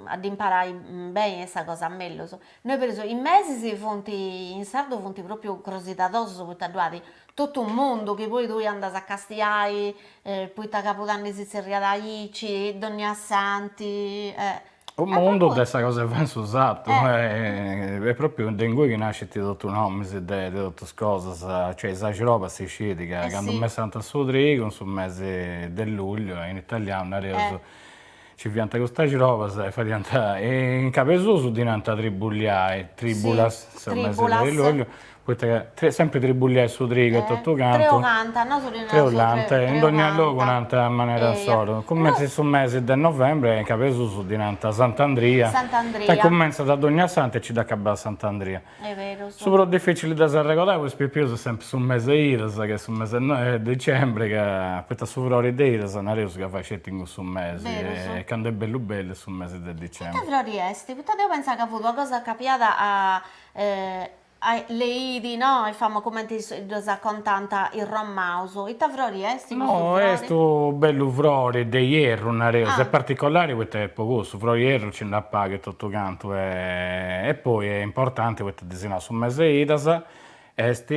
a dd'imparai beni est sa cosa mellus no po esempiu is mesis funt in sardu funt propriu crosidadosus poita ddu at totu u' mundu chi poi tui andas a castiai poita cabudanni ddi si zerriat aici dònniassanti e U' mundu de sa cosa 'e fai in su sartu est propriu de ingui chi nascint totu nomis de totus cosas, cioè in s'axroba si scit ca candu messànt su trigu in su mesi de lugliu in italianu nareus nci fiant custas axrobas e fadiant e in Cabesusu ddi nant tribuliai, tribulas, su mesi de lugliu, Poita ca sempri tribuliai su trigu e totu cantu. Treu canta, nosu ddi narus treu canta. Treu canta, in dogna logu nant a manera insoru. Cumenti su mesi de novembri, in Cabesusu ddi nant Sant'Andria. Sant'Andria. Ca cumentzat a dognasantu e nci dd'acabat a Sant'Andria. Berus. Su prus dificili de s'arregodai po is pipius est sempri su mesi 'e idas, ca est su mesi 'e dicembri, ca poita su frori de idas nareus ca fait sceti in cussu mesi. Berus. E candu est bellu bellu est su mesi de dicembri. Ita frori est? Poita deu pentzà ca fut una cosa acapiada a Le idi, no? Est famosu cumenti ddas contànt is romaus. Ita frori est custu frori? No, est u' bellu frori de ierru, nareus, est particolari poita est po cussu, frori 'e ierru nci nd'at pagu e totu cantu e e poi est importanti poita ddi si nau su mesi 'e idas est,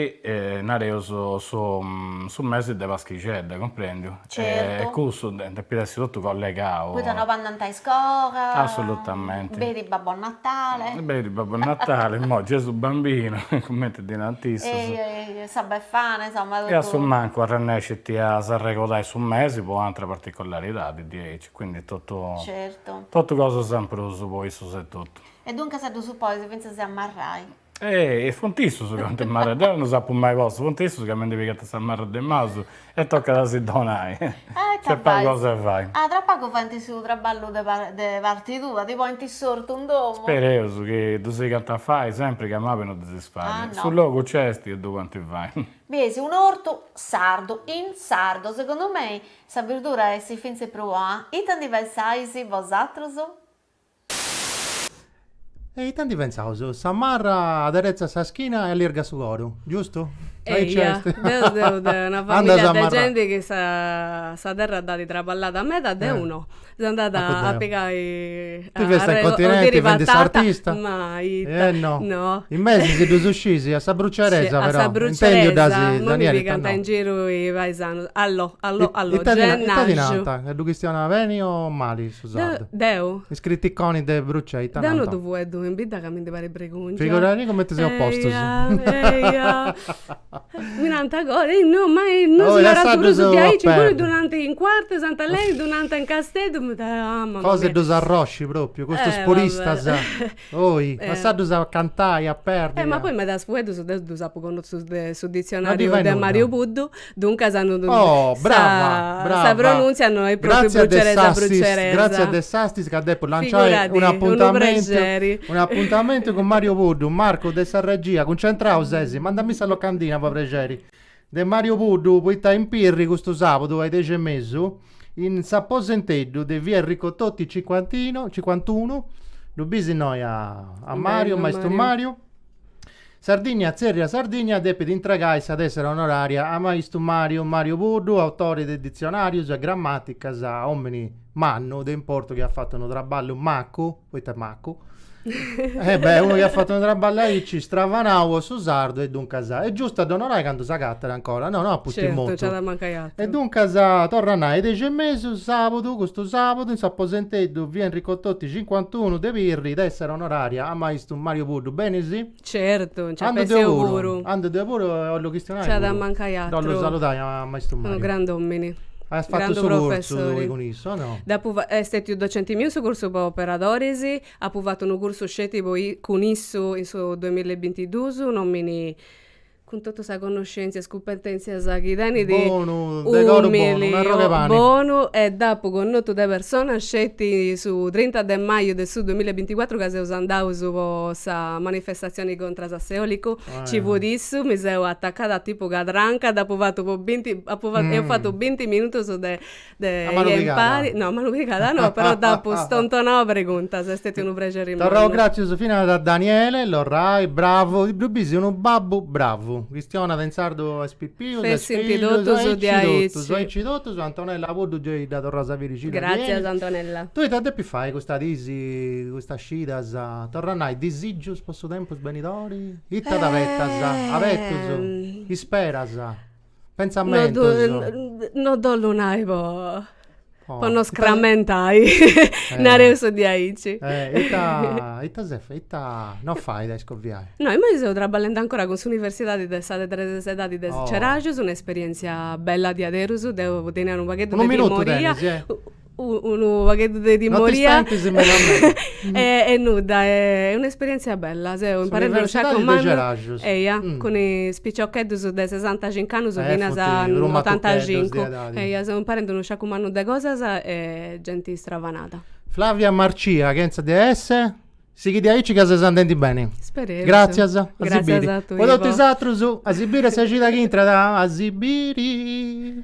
nareus, su mesi de paschixedda, cumprendiu? Certu. E cussu depit essi totu collegau. Poita no andant a iscola. Assolutamente. Benit Babbo Natale. Benit Babbo Natale, imoi Gesù Bambino, cumenti ddi nant issus. E sa Befana, insomma totu. E a su mancu arrennescint a s'arregodai su mesi po ateras particolaridadis diaici, quindi totu. Certu. Totu cosas in prus po issus etotu. E duncas ddus ponis fintzas a marrai. Ehi, e funt issus ca 'oint marrai, deu no s'apu mai postu, funt issus ca mi ndi pigant sa marra de maus e tocat a si donai, nc'est pagu cosa de fai. Ah, tra pagu faint su traballu de parti tua, ti ponint s'ortu in domu? Spereus chi ddu sigant a fai sempri ca mabi no ddi si fait, su logu nc'est e ddu podint fai. Biesi, un'ortu sardu, in sardu, segundu mei sa birdura essit fintzas prus bona, ita ndi pensais bosatrus? E ite ndi pensaus? Sa marra aderetzat sa schina e allirgat su coru, giustu? Eia, deu seu de una familia de genti chi sa terra dd'at traballada meda, deu no. Seu andada a pigai, arregollu patata, ma ita, no. No. In mesu si ddus scisi, a sa bruciaresa però. A sa bruciaresa, no mi pigant in giru is paisanus. Allo, allo, allo, gennaju. Ita ti narant? Ca ddu chistionas beni o mali? Deu. Is criticonis de Brucei, ita nant. Deu no ddu fueddu in bidda ca mi ndi parit bregùngia. Figuradì cumenti seus postus. Eia, mi nant agoa, ehi no, ma no si narat prus diaici, imui ddu nant in Cuartu Sant'Aleni, ddu nant in Casteddu, mi. Cosa 'e ddus arrosci propriu, custus puristas. Oi, lassaddus a cantai, a perdi. Eh, ma poi medas fueddus deu ddus apu connotzus de su ditzionariu de Mariu Puddu, duncas no ddu. Oh, brava, brava. Sa pronuntzia no est propriu bruceresa bruceresa. Gratzias de s'assist ca depu lanciai unu apuntamentu, unu apuntamentu cun Mariu Puddu, Marcu de sa regia, cuncentrau sesi, mandami sa locandina po prexeri. de Mario Puddu poita in Pirri custu sàbudu a is dexi e mesu in s'aposenteddu de via Enrico Toti cincuantino cincuantunu ddu bis innoi a a Mariu maistu Mariu Sardinnia Tzèrriat Sardinnia depit intragai sa tessera onoraria a maistu Mariu Mariu Puddu autore de ditzionarius e grammaticas omini mannu de importu chi at fatu unu traballu macu, poita est macu, e beh unu chi at fatu unu traballu aici stravanau po su sardu e duncas, est giustu a dd'onorai candu s'agatat ancora, no no a pustis mortu. Certu, gei at a mancai àturu. E duncas torra a nai, dexi e mesu, sabudu, custu sabudu in s'aposenteddu Via Enrico Toti cincuantunu de Pirri, tessera onoraria a maistu Mario Puddu, benisi? Certu, nci ses, nci seu puru. Andu deu puru e 'ollu chistionai puru. Nci at a mancai atru. Dd'ollu saludai a maistu Mariu. Unu grand'omini. Aias fatu su cursu tui cun issu, o no? Dd'apu fatu, est stetiu docenti miu in su cursu po operadoris, apu fatu unu cursu sceti po cun issu in su duamilla e bintiduus, un'omini cun totu sa connoscèntzia e is cumpetèntzias chi tenit, bonu, de coru bonu, un'arrogu 'e pani, umili, bonu e dd'apu connotu de persona sceti su trinta de maju de su duamilla e binticuatru ca seus andaus po sa manifestatzioni contras a s'eòlicu, nci fut issu, mi seu atacada tipu cadranca, dd'apu fatu po binti, apu fatu, eus fatu binti minutus de De impari, no, manu pigada no, però dd'apu stontonau a preguntas, est stetiu unu prexeri mannu. Torraus gràtzias finas a Daniele Lorrai, bravu, ddu bisi unu babbu bravu, chistionat in sardu a is pipius, a is fillus, aici totus diaici, aici totus, Antonella Puddu gei dda torraus a biri scida diaici. Gràtzias Antonella. Tui ita depis fai custa disi, custas scidas, torra a nai, disigius po su tempus benidori? Ita t'abetas, abetus, isperas? Pentzamentos. No ddu ollu nai po po no scrammentai, nareus diaici. Ita ita ses fai, ita no fait a iscoviai? No, imoi seu trabballendi ancora cun s'universidadi de sa de tres edadi de Ceraxus, un'esperientzia bella diaderus, deu tenia unu pagheddu de timoria. Unu minutu tenis, eh? unu pagheddu de timoria e nudda, est un'esperièntzia bella, seu imparende a comandai, eia, cun is piciocheddus de sesantacincu annus finas a otantacincu, eia, seu imparende unu sciacu mannu de cosas e genti stravanada. Flavia Marcia, chentza de esse, sighi diaici ca ses andendi beni. Spereus. Gràtzias, a si biri. Gràtzias a tui e a totu is atrus, a si biri a sa cida chi intrat, a si biri.